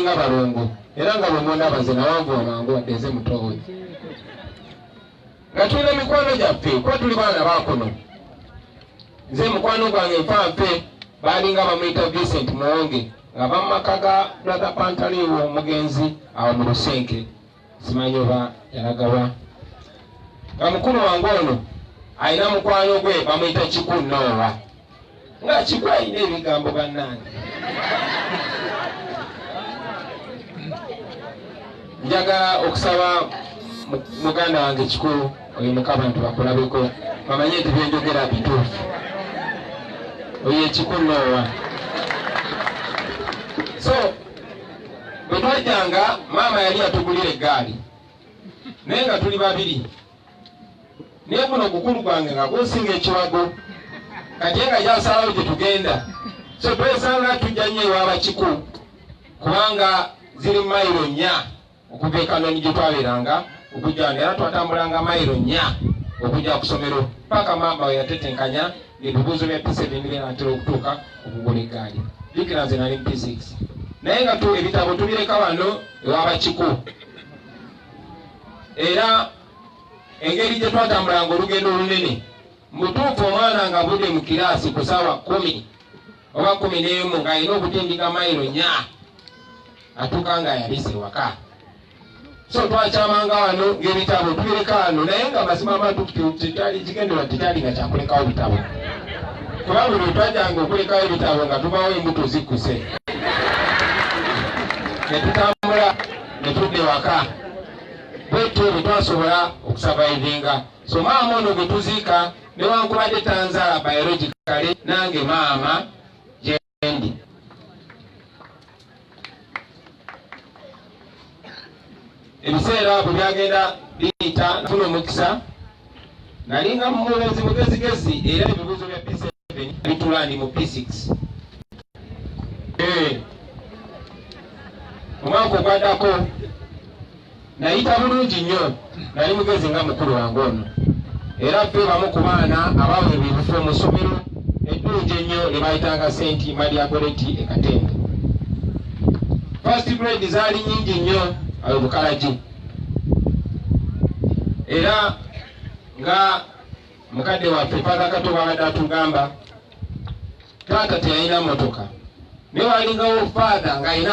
nga balongo era nga bwemundaba nze nawanvuwa mangu wadde nze mutowe nga tulina mikwano gyaffe kuba tuli baana bakuno nze mukwano gwange nfanfe baalinga bamuyita vincent muwonge nga bamumaka ga brother pantaliwo omugenzi awo mu lusenke simanyi oba yalagawa nga mukulu wange ono alina mukwano gwe bamuyita kiku noowa nga kiku alina ebigambo bannange njagala okusaba muganda wange kiku oyo mukabantu bakulabeko bamanye nti byenjogera bituufu oyo ekiku noowa so bwe twajjanga maama yali yatugulira eggaali naye nga tuli babiri naye guno ogukulu gwange nga gusinga ekiwago kati nga gyasalawo gye tugenda so twesanga tujja nnyo ewabakiku kubanga ziri mayiro nnya Okuva e Kanoni gye twabeeranga okujja wano era twatambulanga mayiro nnya okujja ku ssomero paka maama we yatetenkanya ebibuuzo bya P7 bye natera okutuuka okugula eggaali. Jjukira nze nali mu P6 naye nga ebitabo tubireka wano ewa Bakiku era engeri gye twatambulanga olugendo olunene mutuufu omwana nga budde mu kiraasi ku saawa kumi oba kumi n'emu ng'alina okutindika mayiro nya atuuka nga yabise ewaka so twakyamanga wano ng'ebitabo tubireka wano naye nga mazima amatukutu tetwali kigenderwa tetwali nga kyakulekawo bitabo kuba buli twajanga okulekawo ebitabo nga tubawo embuto zikkuse ne tutambula ne tudda ewaka bwetyo bwe twasobola okusavaivinga so maama ono gwe tuziika newankubadde tanzaala biologically nange maama gyendi ebiseera bwe byagenda biyita nafuna omukisa nalinga mumulezi mugezigezi era ebibuuzo bya p7 bitula ndi mu p6 eh, omwaka ogwadako Nayita bulungi nnyo, nali mugezi nga mukulu wange ono, era ffe bamu ku baana abaweebwa ebifo mu ssomero eddungi ennyo lye bayitanga Saint Maria Goretti e Katende. First grade zaali nnyingi nnyo awo Bukalagi, era nga mukadde waffe Father Kato bwabadde atugamba, taata teyalina mmotoka naye walingawo Father ng'alina